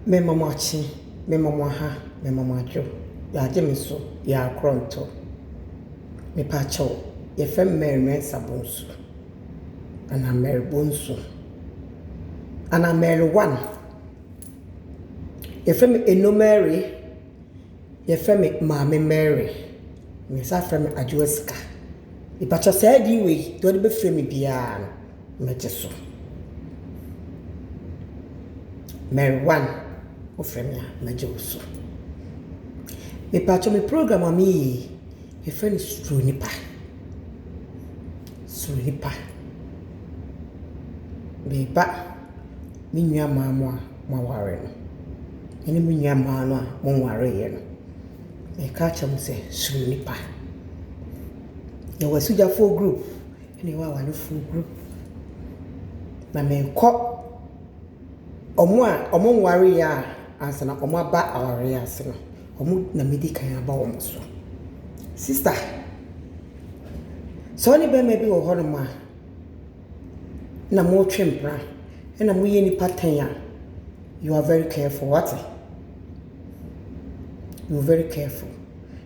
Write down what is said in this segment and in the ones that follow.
Mɛma mo akye, mɛma mo aha, mɛma mo adwo, yɛagye me so, yɛakorɔ ntɔ. Mepaakyɛw, yɛfrɛ me Mary Mensah Bonsu, anaa Mary Bonsu, anaa Mary One. Yɛfrɛ me Eno Mary, yɛfrɛ me Maame Mary, na yɛsan frɛ me Adwoa Sika. Mepaakyɛw saa din wei, deɛ wɔde bɛfrɛ me biara no. Megye so. Mary Wan, wofrɛ me a, megye wo so. Mepakyɛw me program a meyɛ yi, yɛfrɛ no Suro Nnipa. Suro Nnipa. Meba me nuammaa mo a moaware no, ɛne me nuammaa no a monwareeɛ no, meka akyerɛ mo sɛ, suro nnipa. Yɛwɔ Asugyafo group, Ɛna ɛwɔ awarefoɔ ho. Na merekɔ ɔmo a ɔmo nwareɛ a ansa na ɔmo aba awareɛ ase no, ɔmo na mɛdi kan aba ɔmo so. Sista, sɛ wo ne bɛɛma bi wɔ hɔ nom a, na mo twe mpena, ɛna mo yɛ nnipa tɛn a, you are very careful, w'ate? You are very careful.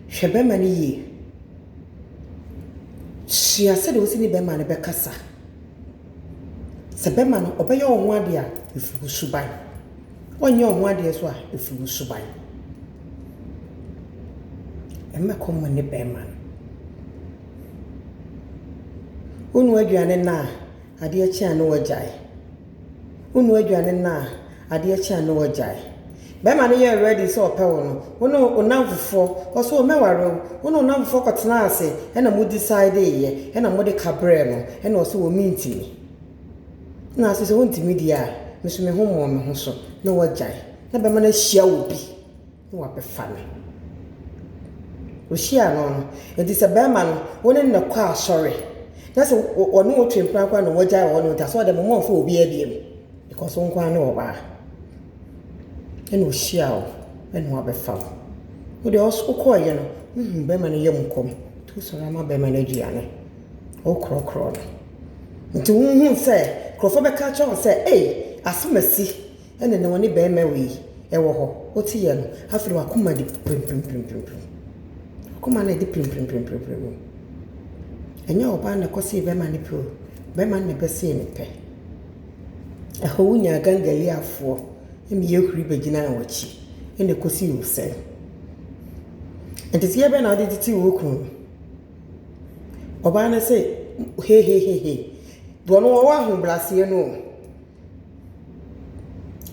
Hwɛ bɛɛma no yie. Sua sɛdeɛ wo se ne bɛma no bɛkasa. Sɛ bɛma no ɔbɛyɛ wo ho adeɛ a, ɛfiri wo suban. Ɔnyɛ wo ho adeɛ nso a, ɛfiri wo suban. Mmɛkɔ mo ne bɛma no. Wonua aduane nnɛ a, adeɛ kye a ne wagyae. Wo noa aduane no a adeɛ kye a ne wagyae. Bɛɛma no yɛɛ ready sɛ ɔpɛ wo no, wo ne wo namfofoɔ, ɔse o mɛware wo, wo ne wo namfofoɔ kɔ tenaa ase ɛna mo decideeyɛ ɛna mode ka brɛɛ no ɛna ɔse o mentimi. Ɛna ase sɛ wontimi deɛ a, me nso me ho mmɔɔ me ho so na wagyae. Na bɛɛma no ahyia obi na wɔabɛfa no. Ohyiaa no no, enti sɛ barima no, wo ne no kɔ asɔre, na sɛ ɔne wo twe mpena koraa na wagyae wɔ hɔ no, nti asɔre dɛ moma ɔmfa obiara biom, because wo nkoaa ne ɔbaa. Ɛna ohyiaa wo, ɛna wabɛfa wo. Wo deɛ ɔso wokɔɔeɛ no, wohuu barima no yam kɔm, nti wosɔre ama barima no aduane, wokorɔkorɔɔ no. Nti wonhuu sɛ, nkorɔfoɔ bɛka akyerɛ wo sɛ, ei, asem asi, Ɛnna na ɔne barima wei wɔ hɔ. Woteeɛ no, afei w'akoma de pirimpirimpirimpirim. W'akoma no a ɛde pirimpirimpirimpirim no, ɛnyɛ ɔbaa no na ɛkɔsee barima no pɛ o, barima no na ɛbɛsee ne pɛ. Ɛhɔ wonyaa Gangaliafoɔ mmea huri bɛgyinaa w'akyi, ɛnna ɛkɔsii wo sɛn? Nteteeɛ bɛn na wode tetee wo kunu no? Ɔbaa no se, Hehehehe, deɛ ɔno ɔwɔ ahobrɛaseɛ no o.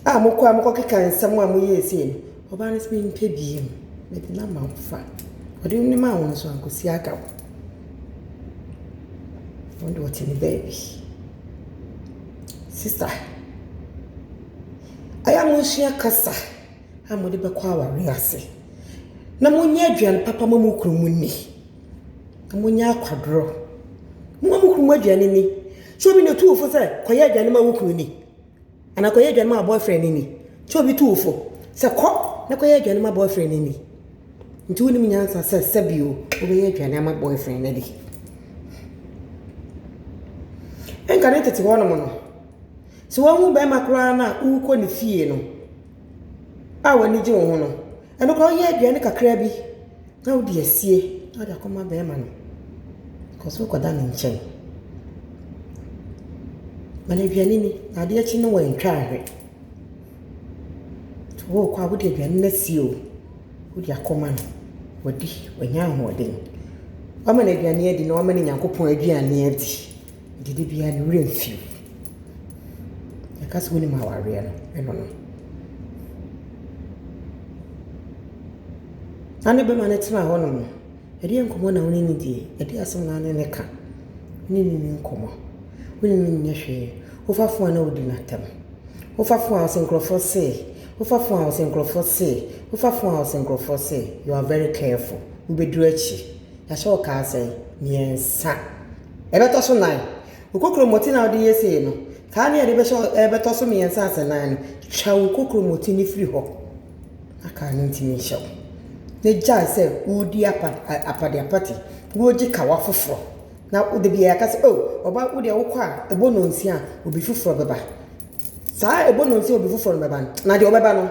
a mokɔ a mokɔkeka nsɛm a moyɛɛ sei no, ɔbaa no se mempɛ biom, mede no ama wo fa. Ɔde no maa wo no nso ankosi agaw. Ɔno deɛ ɔte ne baabi. Sista, ɛyɛ a monsua kasa a mode bɛkɔ awareɛ ase na monyɛ aduane papa ma mo kunu mo nni. na monya akwadorɔ. Momma mo kununom aduane nni. Sɛ obi na ɔtu wo fo sɛ kɔyɛ aduane ma wo kunu ni, anaa kɔyɛ aduane ma wo boyfriend no ni, sɛ obi tu wo fo sɛ kɔ na kɔyɛ aduane ma boyfriend no ni, nti wonim nyansa sɛ sɛbi o, wobɛyɛ aduane ama boyfriend no adi. Ɛnka ne tete hɔ nom no, sɛ wahu barima koraa no a, wokɔ ne fie no a w'ani gye wo ho no, Ɛno koraa woyɛ aduane kakra bi na wode asie na wode akɔma bɛrima no kɔ so kɔda ne nkyɛn. Ma no aduane ni na adeɛ akyi no wantwa ahwɛ. Worekɔ a wode aduane no asie o, wode akɔma no, wadi, wanya ahoɔden. Woama no aduane adi na woama no Nyankopɔn aduane adi. Nti da biara ne werɛ mfi wo. Yɛka sɛ wonim awareɛ no, ɛno no. Na ne bɛma no tena hɔ nom no, ɛdeɛn nkɔmmɔ na wo ne no die? Ɛdeɛn asɛm na wo ne no ka? Wo ne no nni nkɔmmɔ, wo ne no nyɛ hwee. Wofa fon a na wodi no atɛm. Wofa fon a wo se nkurɔfoɔ se, wofa fon a wo se nkurɔfoɔ se, wofa fon a wo se nkurɔfoɔ se. You are very careful. Wobɛduru akyi. Na sɛ ɔkaa sɛ, Mmiɛnsa. Ɛbɛtɔ so nan. Wo kokromoti no a wode yɛsei no, kaa no a ɛde ɛrebɛtɔ so mmiɛnsa asɛ nan no, twa wo kokromoti no firi hɔ na kaa no ntumi nhyɛ wo. Na gyae sɛ woredi apa, apade apate, na wogye kawa foforɔ. Na da biara ka sɛ, oh, ɔba, wo deɛ wokɔ a, ɛbɔ nnɔnsia a, obi foforɔ bɛba. Saa ɛbɔ nnɔnsia a obi foforɔ no bɛba no, na deɛ ɔbɛba no,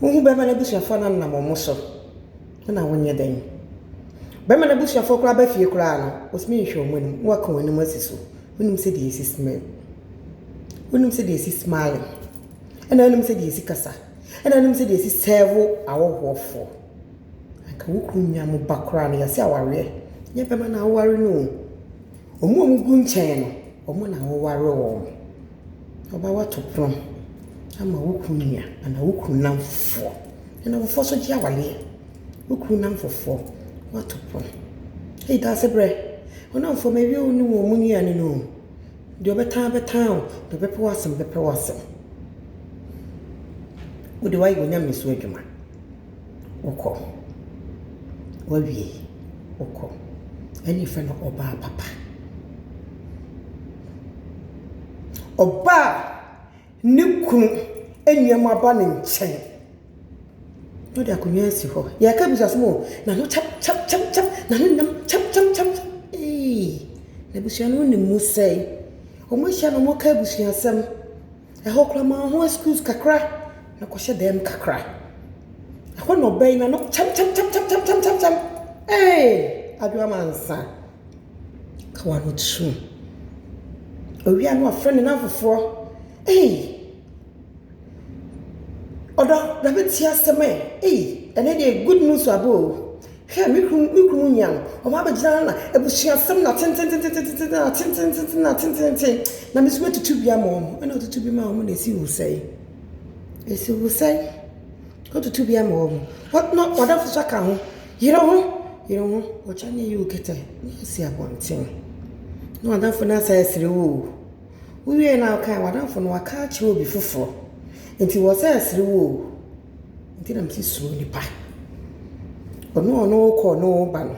Wo hu bɛma n'abusuafoɔ no anam wɔn mo so na wo nyɛ dɛn? Bɛma n'abusuafoɔ koraa ba fie koraa no wo tumi nhwɛ wɔn anim na wo aka wɔn anim asi so. Wo nim sɛ deɛ ɛsi smile. Wo nim sɛ deɛ ɛsi smiling. Ɛna wo nim sɛ deɛ ɛsi kasa. Ɛna wo nim sɛ deɛ ɛsi sɛɛvo awɔhoɔfoɔ. Anka wo kunu nua mo ba koraa no yɛse awareɛ nyɛ bɛma na awoware no o. Wɔn a wɔgu nkyɛn no wɔn na woware wɔn. Ɔba woato prɔm ama wo kunu nua anaa wo kunu nnamfofoɔ. Ɛna fofoɔ nso gye awadeɛ. Wo kunu nnamfofoɔ, woato prɔm. Ei dase berɛ. Wo nnamfoɔ mawie wo ne wɔn mo nnuane no o. Deɛ ɔbɛtan ara bɛtan o, deɛ ɔbɛpɛ w'asɛm bɛpɛ w'asɛm. Wo deɛ woayɛ w'Onyame so adwuma. wokɔ. Woawie, wokɔ. Ɛnna yɛfrɛ no ɔbaa papa. Ɔbaa a ne kunu nneɛma ba ne nkyɛn, na ɔde akonnwa asi hɔ. Yɛreka abusuasɛm o, n'ano kyam kyam kyam kyam, n'ano nnam kyam kyam kyam kyam. Eii! Abusua no nni mu sɛɛ. Wɔahyia na wɔreka abusuasɛm. Ɛhɔ koraa maa ho excuse kakra na kɔhyɛ dan mu kakra. Ɛhɔ na ɔbaa yi n'ano kyamkyamkyamkyamkyamkyam. Ee! Adoamansa, ka w'ano kyerɛm. Owie a na wafrɛ ne nan foforɔ. Ei! Ɔdɔ, bra bɛtie asɛm ɛ. Ei! Ɛnnɛ deɛ good news aba o. Hwɛ, me kunu, me kunu nua no, ɔba abɛgyina ha na abusuasɛm na tententententententenn na tententententenn na tentententenn, na me nso mɛtutu bi ama wɔn. Ɛna ɔtutu bi maa wɔn na ɛsii wo sɛn? Ɛsii wo sɛn? Ɔtutu bi ama wɔn. Ɔ- na ɔdafo nso aka ho. Yere ho, yere ho, ɔkyɛ ne yi wo kɛtɛ, ne asi abɔnten. Na ɔdafo no asa asere wo o. Wowie na wokae, w'adamfo no waka akyerɛ obi foforɔ. Nti wɔsa asere wo o. Nti na mese suro nipa. Ɔno a ɔne wo rekɔ ɔne wo reba no,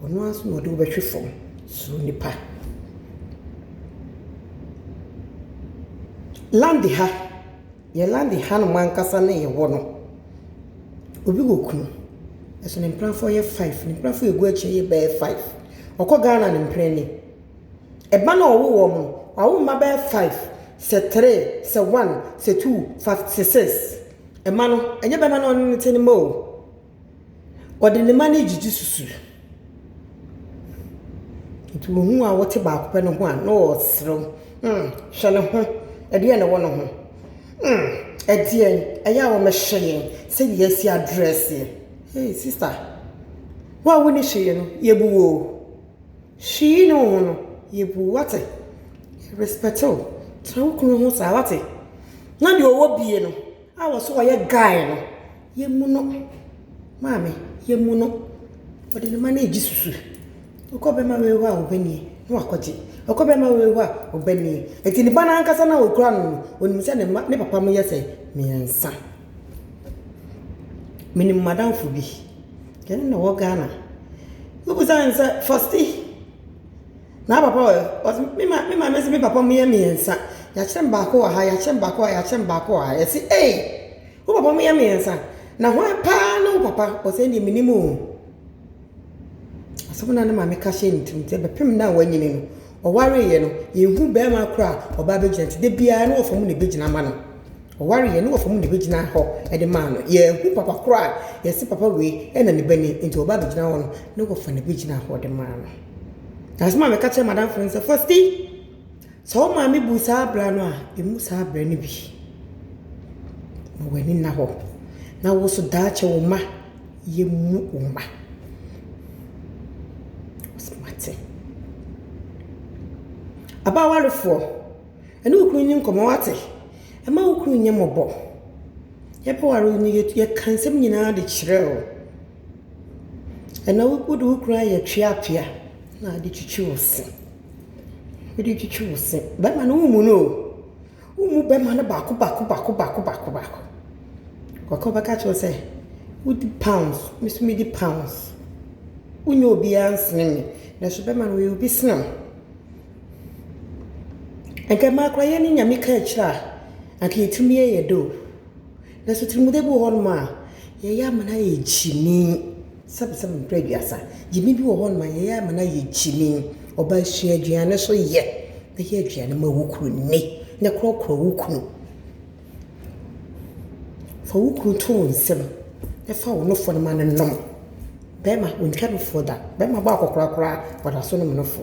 ɔno ara nso na ɔde wo bɛhwe fam. Suro nipa. Lande ha, yɛn lande hanom ankasa na yɛwɔ no, obi wɔ kunu, nanso ne mpenafoɔ yɛ five. Ne mpenafoɔ a ɛgu akyire yi bɛyɛ five. Ɔkɔ Ghana a, ne mpena ni. Mma no a ɔwo wɔn no, wawo mma bɛyɛ five, sɛ three, sɛ one, sɛ two, fa sɛ six. Mma no, ɛnyɛ bɛma na ɔno ne te ne mma o. Ɔde ne mma no gyigye susu. Nti wohu a wɔte baako pɛ no ho a na ɔreserew. Hmm, hwɛ ne ho, ɛdeɛn na ɛwɔ ne ho? Hmm, ɛdeɛn, ɛyɛ a wɔmmɛhyɛ yɛn sɛdeɛ yɛasi adrɛɛse. Hey sister, wo a wonni hwee no, yɛbu wo o. Hwii ne wo ho no yɛ bu wate respɛte wo tra wo kunu ho saa wate na deɛ ɔwɔ bie no a wɔso ɔyɛ guy no yɛ mu no maame yɛ mu no ɔde ne ma no ɛgye susu ɔkɔ bɛma wei hɔ a ɔbɛ nie na wakɔgye ɔkɔ bɛma wei hɔ a ɔbɛ nie ɛti ne ba no ankasa no a ɔkura no no ɔnim sɛ ne papa mo yɛ sɛ mmiɛnsa. Menim m'adamfo bi, yɛne no wɔ Ghana. Wobisa no sɛ, Fɔsti, n'apapa wɔ he? Ɔse, me ma me maame se me papa mu yɛ mmiɛnsa. Yɛakyerɛ me baako wɔ ha, yɛakyerɛ me baako wɔ ha, yɛakyerɛ me baako wɔ ha. Yɛse, Ei! Wo papa mu yɛ mmiɛnsa? Na hwan paa ne wo papa? Ɔse, Ɛnneɛ mennim o. Asɛm no a na maame ka hyɛɛ ne tirim nti bɛpem no a wanyini no, ɔwareeɛ no, yɛnhu barima koraa a ɔba abɛgyina nti da biara ne wɔfa mu na ɛbɛgyina ma no. Ɔwareeɛ ne wɔfa mu na ɛbɛgyina hɔ de ma no. Yɛnhu papa koraa a yɛse papa wei na ne ba ni nti ɔba abɛgyina hɔ no, ne wɔfa na ɛbɛgyina hɔ de ma no. Asɛm a meka kyerɛɛ m'adamfo no sɛ, Fosti! Sɛ wo maame bu saa abira no a, mmu saa abira no bi. Ma w'ani nna hɔ. Na wo nso daakye wo mma, yɛmmu wo mma. Ɔsɛ mate. Aba awarefoɔ, ɛne wo kunu nni nkɔmmɔ, wate? Ɛma wo kunu nyɛ mmɔbɔ. Yɛbɛware wo no, yɛka nsɛm nyinaa de kyerɛ wo. Ɛnɛ wode wo kunu ayɛ tweatwea na ade twitwi wo se. Wode twitwi wo se. Bɛma no wommu no o. Wommu bɛma no baako baako baako baako baako baako. Kɔ kɔ bɛka kyerɛ wo sɛ wodi pounds, me nso medi pounds. Wonyɛ obiara nsene me. Nanso bɛma no ɔyɛ obi sene wo. Anka mmaa koraa yɛne Nyame ka akyire a anka yɛtumi yɛ yɛdɛ o. Nanso tirimɔdɛ bi wɔ hɔnom a yɛyɛ ama no ayɛ gyimi. Sɛbesɛbe mpere aduasa. Gyimi bi wɔ hɔnom a yɛyɛ ama no ayɛ gyimi. Ɔbaa sua aduane nso yɛ. Yɛ aduane ma wo kunu nni na korɔkorɔ wo kunu. Fa wo kunu to wo nsam na fa wo nofo no ma no nnom. Barima ɔntwa nofo da. Barima bɔ akɔkora koraa a, ɔda so nom nofo.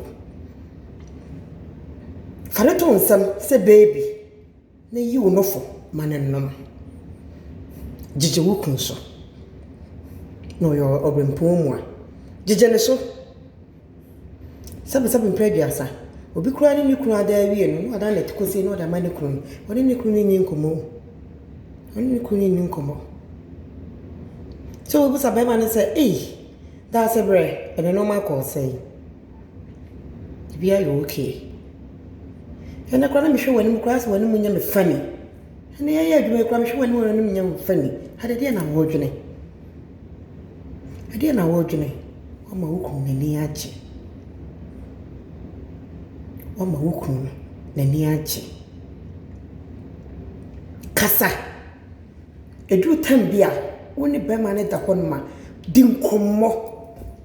Fa no to wo nsam sɛ baby. Na yi wo nofo ma no nnom. Gyigye wo kunu so, na ɔyɛ ɔberempɔn mu a, gyigye ne so. Sɛbesɛbe mprɛ aduasa. Obi koraa ne ne kunu ada awie no, na wadan n'atikɔsie na ɔde ama ne kunu no. Ɔne ne kunu no nni nkɔmmɔ o. Ɔne ne kunu no nni nkɔmmɔ. Sɛ wobisa barima no sɛ, Ei, Daasebrɛ, ɛnnɛ nneɛma kɔɔ sɛn? Biribiara yɛ okay. Ɛnnɛ koraa na mehwɛ w'anim koraa asɛ w'anim nyɛ me funny. Ɛnnɛ yɛreyɛ adwuma yi koraa mehwɛ w'anim a w'anim nyɛ me funny. Ade deɛ na woredwene? Ɛdeɛ na woredwene? Woama wo kunu n'ani agye. Woama wo kunu n'ani agye. Kasa. Ɛduru time bi a, wo ne barima no da hɔnom a, di nkɔmmɔ.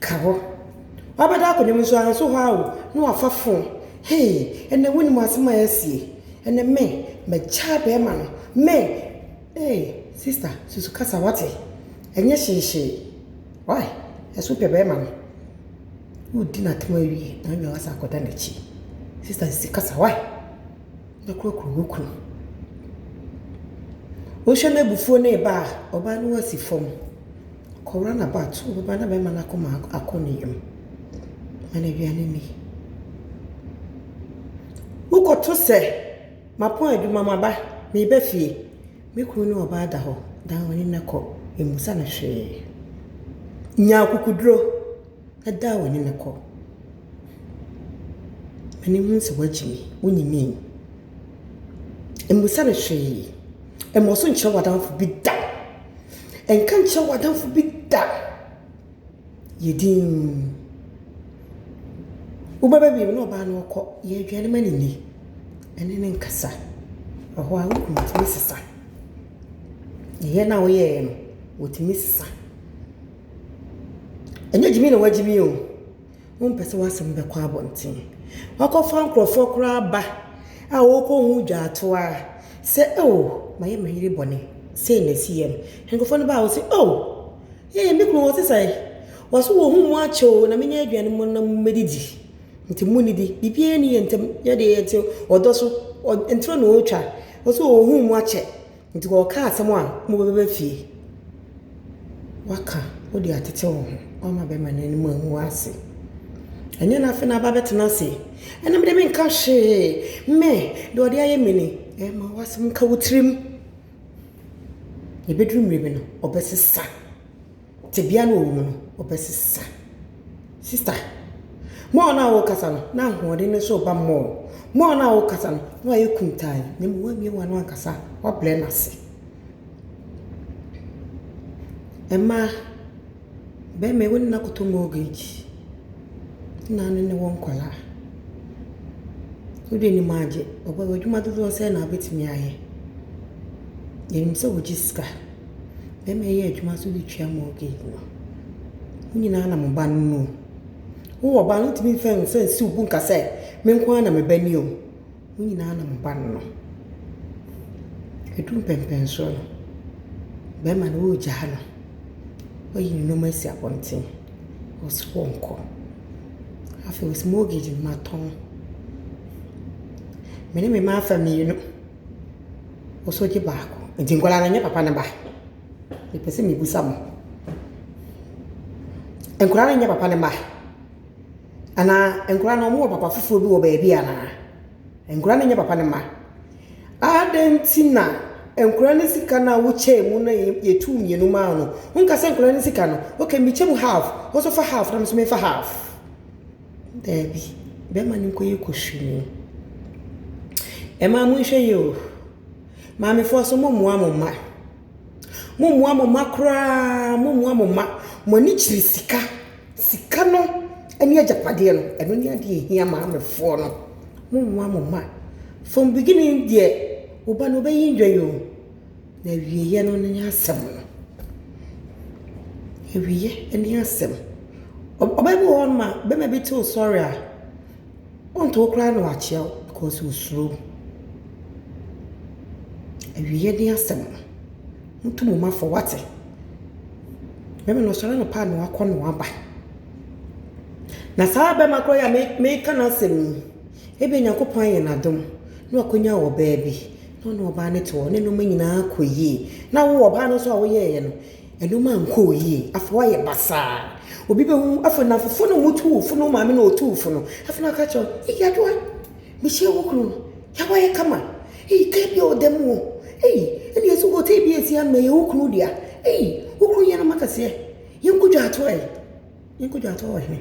ka hɔ. Wabɛda akonnwa mu nso a nso hɔ ara o na wafa phone. Hey, ɛnɛ wonim asɛm a ɛɛsi ei, ɛnɛ me mɛgyaa bɛɛma no, me ei, sister susu kasa wate, ɛnyɛ hyeehyee, wai, ɛso pɛ bɛɛma no. Wodi n'atɛm awie na wanya wasa akɔda n'akyi. Sister sisi kasa wai, na kurakura wo kunu. Wohwɛ n'abufuo no reba a, ɔbaa no ho asi fam. Kora na ba, to wo ba na bɛmma no akoma akɔ ne yam. Ma no aduane nni. Wokɔto sɛ, Mapɔn adwuma, maba, mereba fie. Me kunu ne ɔbaa da hɔ, dan w'ani na kɔ. Mmusa no hwee. Nya akokoduro na dan w'ani na kɔ. Ma no nhunu sɛ woagyimi, wonyimii. Mmusa no hwee. Mmɔ so nkyerɛ w'adamfo bi da. Nka nkyerɛ w'adamfo bi da. Yɛ dinn. Wobɛba baabi na ɔbaa no ɔkɔ. Yɛ aduane ma no nni. Ɛne no nkasa. Ɛhɔ ara wohu otumi sesa. Yɛ no a woyɛeɛ no, otumi sesa. Ɛnyɛ gyimi na wagyimi o. Wompɛ sɛ w'asɛm bɛkɔ abɔnten. Woakɔfa nkurɔfoɔ koraa ba a wɔrekɔhu dwaato ara sɛ, Oh, mayɛ me yere bɔne, sei na ɛsiiɛ no. Nkurɔfoɔ no ba a, wɔse, Oh, ee, me kunu ɔte sɛn? Wɔse, Wɔahu mo akyɛ oo, na menya aduane mu na mommɛdidi. Nti monnidi. Biribiara nni yɛn ntam. Yɛdeɛ yɛte ɔdɔ so. Ɔ, ntorɔ na ɔretwa. Wɔse, Wɔahu mo akyɛ. Nti wɔkaa asɛm a mo bɛba fie waka wode atete wo ho wama bɛma no anim angu ase ɛnyɛ no afei na aba bɛtena ase ɛna mede me nka hwee me deɛ ɔde ayɛ me ni ɛma wasɛm nka wo tirim ɛbɛduru mmerɛ bi no ɔbɛsesa. Tebea no a ɔwɔ mu no, ɔbɛsesa. Sista, mɔɔ no a worekasa no, na ahoɔden no nso reba mɔɔ. Mɔɔ no a worekasa no, na wayɛ kuntann, na mmom woammue w'ano ankasa a, woabrɛ no ase. Mmaa, barima yi, wo ne no akɔtɔ mortgage, ne na ne ne wɔ nkwadaa. Wode anim agye, ɔbaa yi, w'adwuma dodoɔ sɛn na wobɛtumi ayɛ? Yɛnim sɛ wogye sika. bɛma yɛyɛ adwuma nso de tua mortgage no. Mo nyinaa na mo ba no ne o. Wowɔ ba a, wontumi mfa nsa nsi wo bo nka sɛ, me nko ara na me ba ni o. Mo nyinaa na mo ba no no. Ɛdu mpɛnpɛnsoɔ no, bɛrima no woregyaa no. Wayi ne nneɛma asi abɔnten. Ɔse ɔnkɔ. Afei ɔse mortgage no matɔn. Me ne me mma afa mmienu. Osogye baako. Nti nkwadaa no nyɛ papa no ba? Mepɛ sɛ mebisa mo. Nkwadaa no nyɛ papa no mma? Anaa nkwadaa no wɔwɔ papa foforɔ bi wɔ baabi anaa? Nkwadaa no nyɛ papa no mma? Adɛn nti na nkwadaa no sika no a wokyɛɛ mu no yɛ yɛtuu mmienu maa no? Wonka sɛ nkwadaa no sika no, okay mekyɛ mu half, wo nso fa half na me nso memfa half. Daabi, bɛma no nkɔyɛ kusuu. Mmaa monhwɛ yie o. Maamefoɔ nso mommoa mo mma. Mommoa mo mma koraa, mommoa mo mma. Mo ani kyiri sika. Sika no ɛne agyapadeɛ no, ɛno ne adeɛ a ɛhia maamefoɔ no. Mommoa mo mma. From beginning deɛ, wo ba no ɔbɛyi ndwan o. Na awieeɛ no ne asɛm no. Awieeɛ ne asɛm. Ɔbaa bi wɔ hɔ nom a, barima bi te wo sɔre a, ɔnto wo koraa na wakyea wo because ɔsuro wo. Awieeɛ ne asɛm no. Monto mo mma fɔ wate. Barima no ɔsɔre anɔpa a na wakɔ na waba. Na saa barima korɔ yi a meka n'asɛm yi, ebia Nyankopɔn ayɛ no adom na wakɔnya ɔbaa bi. Na ɔne ɔbaa no te hɔ, ne nnoɔma nyinaa kɔ yie. Na wo ɔbaa no nso a woyɛeɛ no, nnoɔma nkɔɔ yie. Afei woayɛ basaa. Obi bɛhu, afei nnamfofoɔ no a wɔtu wo fo no, wo maame na ɔtu wo fo no, afei na ɔka kyerɛ wo, ei Adwoa, mehyia wo kunu no, yɛ a wayɛ kama, ei kaa bi a ɔda mu o, ei ɛnneɛ sɛ hotel bi a ɛsi ha no ɛyɛ wo kunu dea, ei wo kunu yɛ nnoɔma kɛseɛ, yɛnkɔ dwa atoa yi. Yɛnkɔ dwatoɔ wɔ he?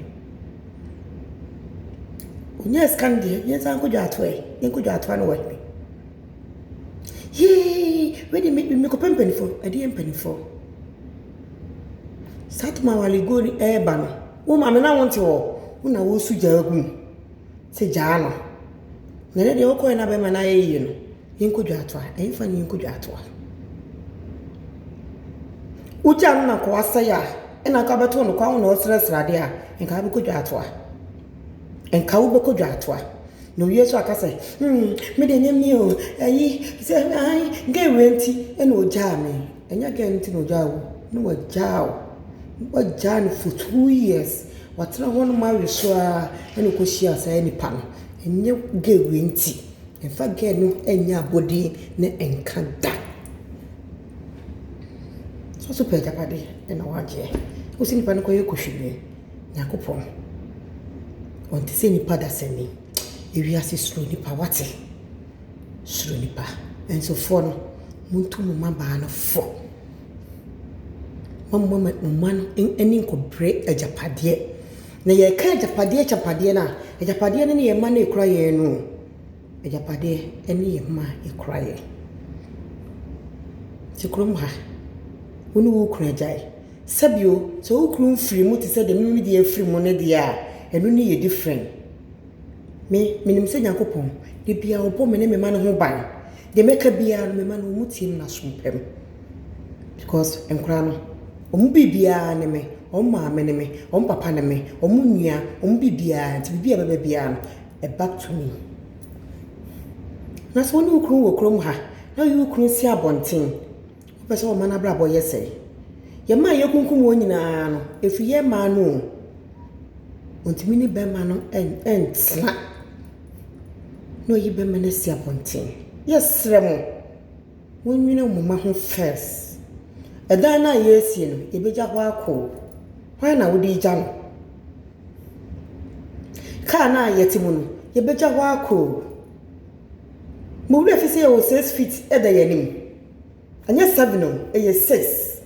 Ɔnyaa sika no deɛ, yɛnsan nkɔ dwatoɔ ɛ, yɛnkɔ dwatoɔ no wɔ he? Yee, wei deɛ mekɔpɛ mpanimfoɔ. Ɛdeɛ mpanimfoɔ? Saa Tamale Goni ɛreba no, wo maame na wonte hɔ? Wo na woresu gya agu mu. sɛ gyaa no, na ɛnɛ deɛ wokɔɛ na bɛɛma no ayɛ yie no, yɛnkɔ dwaatoa, ɛmfa no yɛnkɔ dwaatoa. Wogyaa no na nkoa sɛe a, ɛna nka wobɛtoo no kwan wo na ɔsrɛ sradeɛ a, nka wobɛkɔ dwaatoa. Nka wobɛkɔ dwaatoa. Na owie so aka sɛ, hmm, me deɛ ɛnyɛ me o, ayi, sɛ, ayi, gɛn wei nti ɛna ogyaa me. Ɛnyɛ gɛn nti na ogyaa wo, na wagyaa wo, wagyaa no for two years. Watena hɔ nom awe so ara na ɔkɔhyiaa saa nipa no. Ɛnyɛ gɛɛ wei nti. Mfa gɛɛ no nyɛ abɔdeɛ no nka da. Sɛ ɔso pɛ agyapadeɛ na wagyeɛ. Wose nipa no kɔyɛ kohwini. Nyankopɔn ɔnte sɛ nipa dasani. Ewiase suro nipa wate. Suro nipa. Ɛnsofoɔ no montu mo mmabaa no fo. Mommma mo mma no ani nkɔbrɛ agyapadeɛ. Na yɛka agyapadeɛ agyapadeɛ no a, agyapadeɛ no ne yɛn mma no a ɛkura yɛn no o. Agyapadeɛ ne yɛn mma a ɛkura yɛn. Te kurom ha, wo ne wo kunu agyae. Sɛbio, sɛ wo kunu mfiri mu te sɛ deɛ me ne me deɛ afiri mu no deɛ a, ɛno ne yɛ different. Me, menim sɛ Nyankopɔn, da biara ɔbɔ me ne me mma no ho ban. Deɛ mɛka biara no, me mma no, wɔtie me na aso mpa mu. Because nkwadaa no, wɔn biribiara ne me. Wɔn maame ne me, wɔn papa ne me, wɔn nua, wɔn biribiara. Nti biribi a ɛbɛba biara no, ɛ back to me. Na sɛ wo ne wo kunu wɔ kurom ha na woyi wo kunu si abɔnten, wopɛ sɛ ɔma n'abrabɔ yɛ sɛn? Yɛn mmaa a yɛkunkum wɔn nyinaa no, ɛfiri yɛn mmaa no o. Wɔntumi ne barima no ntena na wayi barima no asi abɔnten. Yɛsrɛ mo. Monnwene mo mma ho first. Ɛdan no a yɛresie no, yɛbɛgya hɔ akɔ o. Hwan na wode regya no? Kaa no a yɛte mu no, yɛbɛgya hɔ akɔ o. Mo werɛ fi sɛ yɛwɔ six feet da yɛn anim? Ɛnyɛ seven o, ɛyɛ six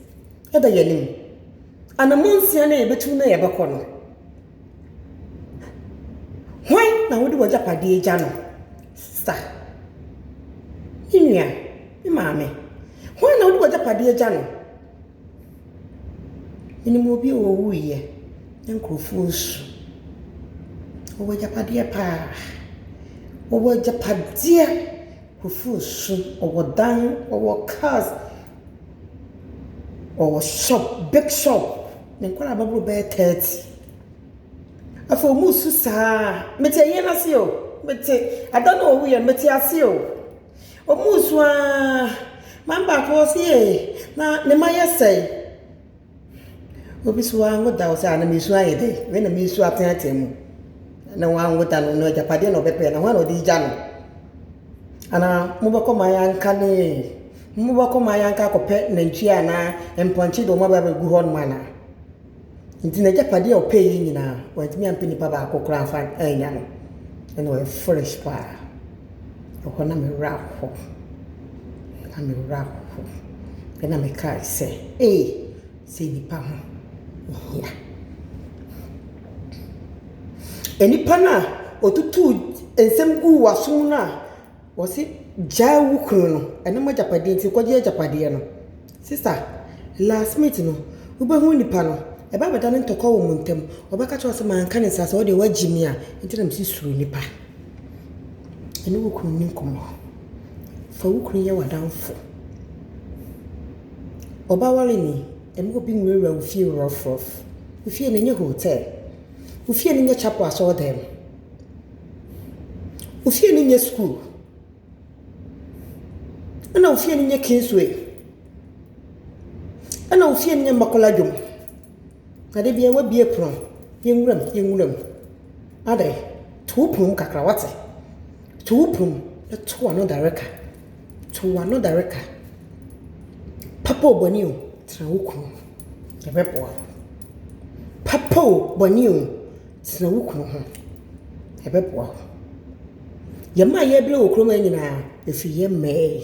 da yɛn anim. Anammɔn nsia no a yɛbɛtu na yɛbɛkɔ no, Hwan na wode w'agyapadeɛ gya no sa? Me nua, me maame. Hwan na wode w'agyapadeɛ gya no? Menim obi a ɔwuiɛ, na nkurɔfoɔ resu. Ɔwɔ agyapadeɛ pa ara. Ɔwɔ agyapadeɛ. Nkurɔfoɔ resu. Ɔwɔ dan, ɔwɔ cars. Ɔwɔ shop, big shop. Ne nkwadaa bɛboro bɛyɛ thirty. Afei wɔresu sa ara. Mete ayie no ase o, mete ɛda no a ɔwuiɛ no, mete ase o. Wɔresu ara. Maame baako ɔse ee, na ne mma ayɛ sɛn? Obi so wanwo da ɔse a na mesu ayɛ dɛ wei na mesu atsen atsen mu na wanwo da no na egyapadeɛ na ɔbɛpɛ na hwan na ɔde egya no anaa mo bɛkɔ mo ayanka ne mo bɛkɔ mo ayanka akɔpɛ nantwie anaa mpɔnkye de ɔmo aba abɛgu hɔ nom anaa nti na egyapadeɛ a ɔpɛɛ yɛ nyinaa wantumi ampɛ nipa baako koraa anfa annya no ɛna ɔyɛ foolish paa. Ɛhɔ na me werɛ ahow. Na me werɛ ahow. Ɛnna mekae sɛ, 'Ei, sɛ nnipa ho hia! Nnipa no a wɔtutuu nsɛm guu w'asom no a wɔse gyaa wo kunu no, ɛno m'agyapadeɛ nti kɔgye agyapadeɛ no. Sista, last minute no, wobɛhu nnipa no, ɛbɛba abɛdane ntɔkwa wɔ mo ntam. Wɔbɛka akyerɛ wo sɛ manka ne saa, sɛ wo deɛ woagye me a, enti na mese suro nnipa. Ɛne wo kunu nni nkɔmmɔ. Fa wo kunu nyɛ w'adamfo. Ɔbawale ni, mma obi nwurawura wo fie rɔfrɔf. Wo fie no nyɛ hotel. Wo fie no nyɛ chapel asɔɔdan. Wo fie no nyɛ sukuu. Ɛna wo fie no nyɛ Kingsway. Ɛna wo fie no nyɛ Makola dwom. Na da biara w'abue pono a, yɛn nwura mu, yɛn nwura mu. Adre, to wo pono mu kakra, w'ate? To wo pono mu, na to w'ano dare ka. To w'ano dare ka. Papa o, bɔne o, tena wo kunu ho. Ɛbɛboa wo. Papa o, bɔne o, tena wo kunu ho. Ɛbɛboa wo. Yɛn mmaa a yɛbrɛ wɔ kurom ha nyinaa, ɛfiri yɛn mmaa yi.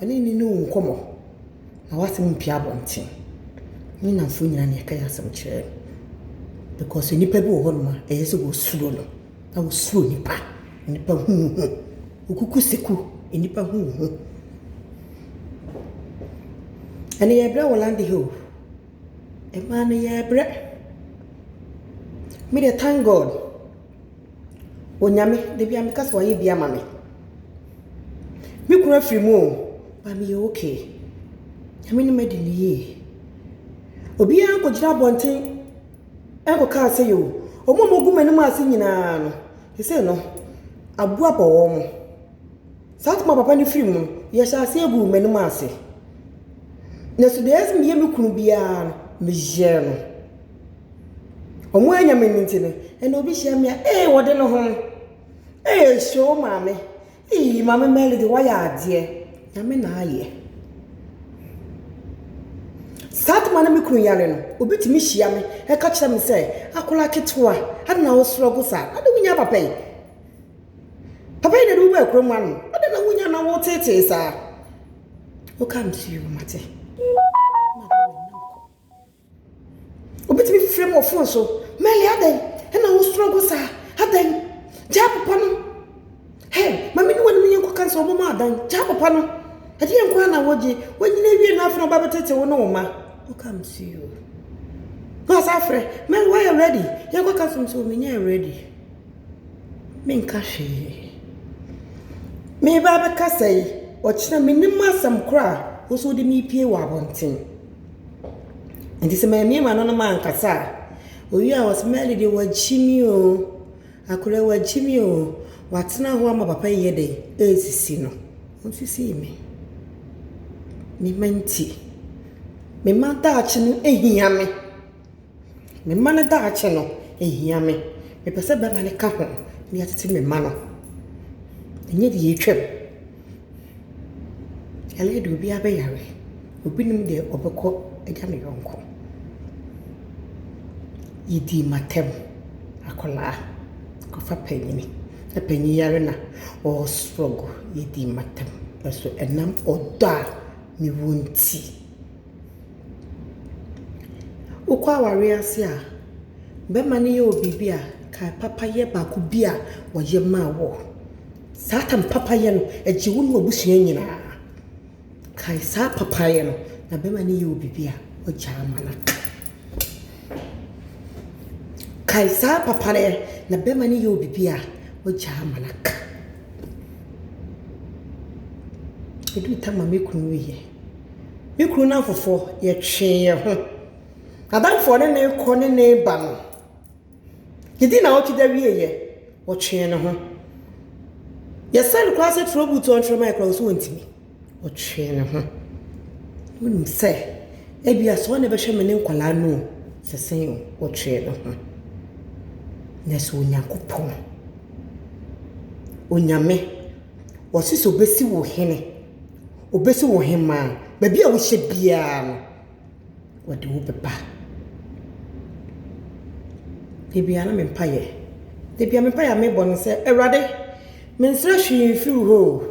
Ɛno nni ne wo nkɔmmɔ. Na w'asɛm mpue abɔnten. Ne nnamfo nyinaa na ɛka yɛn asɛm kyerɛ no. Because nnipa bi wɔ hɔnom a, ɛyɛ sɛ wɔsuro no. Na wɔsuro nnipa. Nnipa hu wo ho. Wokuku seku. Nnipa hu wo ho. Ɛne yɛbrɛ wɔ lande ha o. Mmaa no yɛbrɛ. Me deɛ thank God. Onyame, da biara meka sɛ wayɛ bi ama me. Me kunu afiri mu o, but meyɛ okay. Nyame no madi no yie. Obiara nkɔgyina abɔnten nkɔka asɛe o. Wɔn a wɔgu m'anim ase nyinaa no, seesei no, aboa abɔ wɔn. Saa time a papa no firi mu no, yɛhyɛɛ aseɛ guu m'anim ase. Nanso deɛ ɛyɛ sɛ meyɛ me kunu biara no, meyɛɛ no. Ɔmo annya me nti no, ɛna obi hyia me a, ee wɔde ne ho. Ee hyoo maame, ee maame Mɛlidi wayɛ adeɛ, Nyame na ayɛ. Saa tam a na me kunu yare no, obi tumi hyia me ɛka kyerɛ me sɛ, akwadaa ketewa, adɛn na wo struggle saa, adɛn na wonyaa papa yi? Papa yi na ɛde wo baa kurom ano, adɛn na wonyaa na wo teetee saa? Wokam to you, mate. Obi tumi frɛ mu wɔ fon so, Mɛli adɛn na wosuro gu saa? Adɛn? Gyaa papa no. Hɛ, ma me ne w'anim nyɛ nkɔka nsɛ wɔbɛma adan. Gyaa papa no. Ɛdeɛ nko ara na wogye. Wanyini awie no afei na ɔba bɛtete wo ne wo mma. I'll come to you. Na ɔsan afrɛ, Mɛli woayɛ ready? Yɛnkɔka nsɛm sɛ menyɛɛ ready. Menka hwee. Meba abɛkasa yi, ɔkyena menim asɛm koraa, wo nso wode me pie wɔ abɔnten. Nti sɛ mammue m'ano na mankasa a, owie a ɔse, Mary deɛ wagye me o, Akora wagye me o, watena hɔ ama papa yi yɛ dɛn? Ɛresisi no. Ɔnsisii me. Me mma nti. Me mma daakye no hia me. Me mma no daakye no hia me. Mepɛ sɛ bɛma no ka ho na yɛatete me mma no. Ɛnyɛ deɛ atwam. Ɛyɛ deɛ obiara bɛyare. Obi nim deɛ ɔbɛkɔ agya ne yɔnko. Yɛdii m'atam. Akwadaa kɔfa panin. Na panin yare na ɔrestrɔgo. Yɛdii m'atam. Nanso ɛnam ɔdɔ a mewɔ nti. Wokɔ awareɛ ase a, bɛrima no yɛ wo biribi a, kae papayɛ baako bi a ɔyɛ maa wo. Saa tam papayɛ no, ɛgye wo ne w'abusua nyinaa. Kae saa papayɛ no, na bɛrima no yɛ wo biribi a, wagya ama no aka. Kae saa papayɛ, na bɛrima no yɛ wo biribi a, wagya ama no aka. Ɛduru tam a, me kunu wieɛ. Me kunu nnamfofoɔ, yɛtwee yɛn ho. N'adamfoɔ ne no rekɔ ne no reba no, yɛdii nnawɔtwe da wieeɛ, ɔtwee ne ho. Yɛsrɛɛ no koraa sɛ twerɛ boot a ɔntwerɛ mmaeɛ koraa ɔse ɔntumi. Ɔtwee ne ho. Wonim sɛ ebia sɛ ɔne bɛhwɛ me ne nkwadaa no o, sɛ sɛn o, ɔtwee ne ho. Na sɛ Onyankopɔn, Onyame, ɔse sɛ ɔbɛsi wo hene, Obesi wo ɔhemmaa. Baabi a wohyɛ biara no, ɔde wo bɛba. Da biara na me mpaeɛ, da biara me mpaeɛ a mebɔ ne sɛ, Awurade, mensrɛ hwee mfiri wo hɔ o,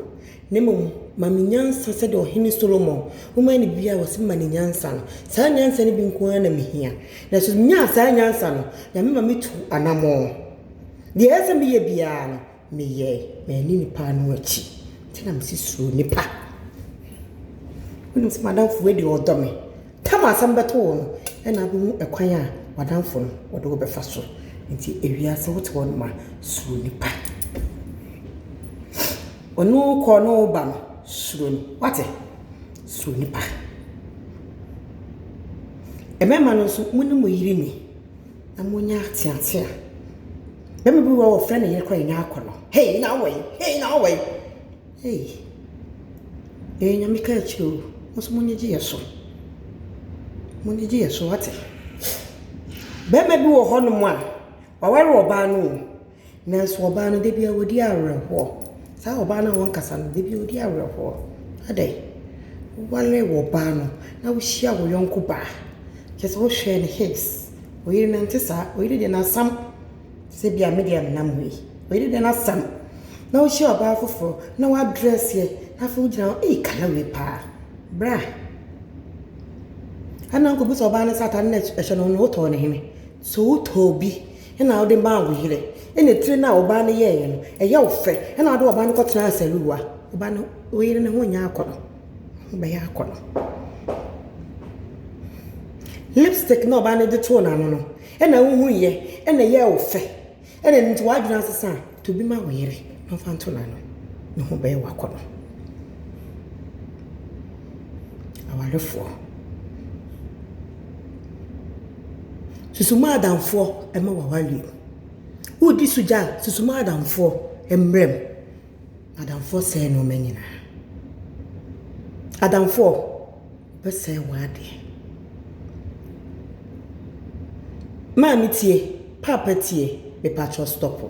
na mmom ma me nyansa sɛdeɛ ɔhene Solomon, womaa no biribiara a ɔse ma no nyansa no. Saa nyansa no bi nko ara na mehia. Na sɛ menyaa saa nyansa no, Nyame ma metu anammɔn. Deɛ ɛsɛ sɛ meyɛ biara no, Meyɛ manni nnipa ano akyi nti na mese suro nnipa. Wonim sɛ m'adamfo wei deɛ ɔdɔ me. Tam a sɛ mobɛto wo no na wobɛhu ɛkwan a w'adamfo no ɔde wo bɛfa so. Nti ewiase wote hɔ nom a suro nnipa. Ɔne wo kɔ ɔne wo ba no suro no wate suro nnipa. Mmarima no nso mo ne mo yere nni. Na monya ateate a. Bɛma bi wɔ ɔfrɛ ne yere kɔ ɛnyɛ akɔ no hei nyina awɔ yi hei nyina awɔ yi hei yɛyɛ nyame ka akyire o moso mo nyegye yɛ so mo nyegye yɛ so wate bɛma bi wɔ hɔ nom a waware ɔbaa no o. Nanso ɔbaa no, da biara ɔdi awerɛhoɔ. Saa ɔbaa no a ɔnkasa no, da biara ɔdi awerɛhoɔ. Adɛn? Woware ɔbaa no na wohyia wo yɔnko baa, kyerɛ sɛ wohwɛɛ no heis, ɔyere no nte saa, ɔyere deɛ n'asɛm te sɛ deɛ medeɛ menam hɔ yi, ɔyere deɛ n'asɛm. Na wohyia ɔbaa foforɔ na wadrɛseɛ na afei wogyina hɔ, ei Kala wei paa, bra. Ɛna nkɔbisa ɔbaa no sɛ ataade no a ɛhyɛ no no wotɔɔ no hene? So wotɔɔ bi Ɛna ɔde maa wo yerɛ. Ɛna etire no a ɔbaa no yɛɛyɛ no, ɛyɛ wo fɛ. Ɛna ɔde ɔbaa no kɔ tenaa Seruwa. Ɔbaa no, wo yere no ho nyɛ akɔnɔ. Ho bɛyɛ akɔnɔ. Lipstick na ɔbaa no de too n'ano no, ɛna wo hui yɛ, ɛna ɛyɛɛ wo fɛ. Ɛna ɛno nti w'adwene asesa a. To bi ma wo yere na ɔmfa nto n'ano. Ne ho bɛyɛ wo akɔnnɔ. Awarefoɔ, susu mo adamfoɔ mma w'awareɛ mu. Woredi sugya a, susu mo adamfoɔ mmara mu. Adamfoɔ sɛe nnoɔma nyinaa. Adamfoɔ bɛsɛe w'adeɛ. Maame tie, paapa tie, mepakyɛw stɔpo.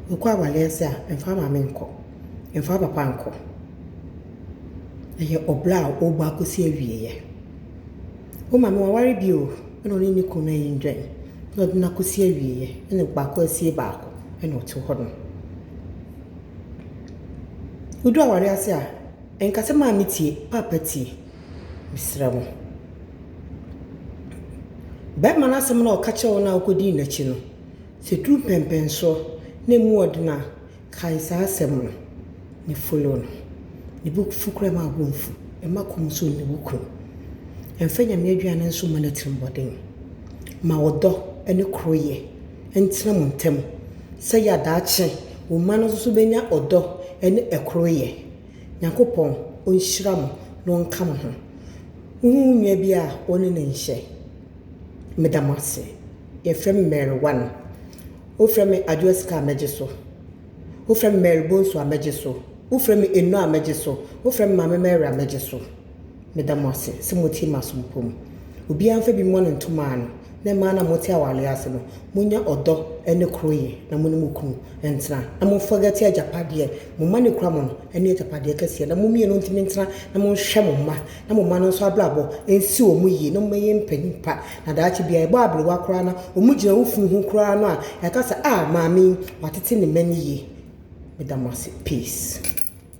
Wokɔ aware ase a, mfa wo maame nkɔ, mfa wo papa nkɔ. Ɛyɛ ɔbra a ɔbɔ akɔsi awieɛ. Wo maame waware bio na ɔne ne kunu ayi ndwan na ɔde no akɔsi awieɛ na baako asie baako na ɔte hɔ nom. Wodu awareɛ ase a, nka sɛ maame tie, paapa tie. Mesrɛ mo. Bɛrima no asɛm no a ɔka kyerɛ wo no a wokɔdii n'akyi no, sɛ ɛduru mpɛnpɛnsoɔ na ɛmu ɔden a, Kae saa asɛm no, ne folo no, ne bo fu koraa mma wo bo mfu, mma kɔm nso nni wo kunu. Mfa Nyame aduane nso mma n'atirimmɔden. Ma ɔdɔ ne koroyɛ ntena mo ntam sɛdeɛ daakye wo mma no nso bɛnya ɔdɔ ne koroyɛ. Nyankopɔn ɔnhyira mo na ɔnka mo ho. Wohu wo nua bi a, wo ne no nhyɛ. Meda mo ase. Yɛfrɛ me Mary One. Wofrɛ me Adwoa Sika a mɛgye so. Wofrɛ me Mary Bonsu a mɛgye so. Wofrɛ me Eno a mɛgye so. Wofrɛ me Maame Mary a mɛgye so. Meda mo ase sɛ motie m'asompɔ mu. Obiara mfa bi mmɔ no ntomaa no, na mmaa no a mote awareɛ ase no, monnya ɔdɔ ne koroyɛ na mo ne mo kunu ntena. Na mo forget agyapadeɛ mo mma no kura mo no, ɛne agyapadeɛ kɛseɛ. Na mo mmienu ntumi ntena na monhwɛ mo mma, na mo mma no nso abrabɔ nsi wɔn yie, na mommɛyɛ mpanin pa Na daakye bi a ɛbɔ aberewa koraa na wɔgyina wo funu ho koraa no a, yɛaka sɛ, ah, maame yi, watete ne mma no yie. Meda mo ase. Peace.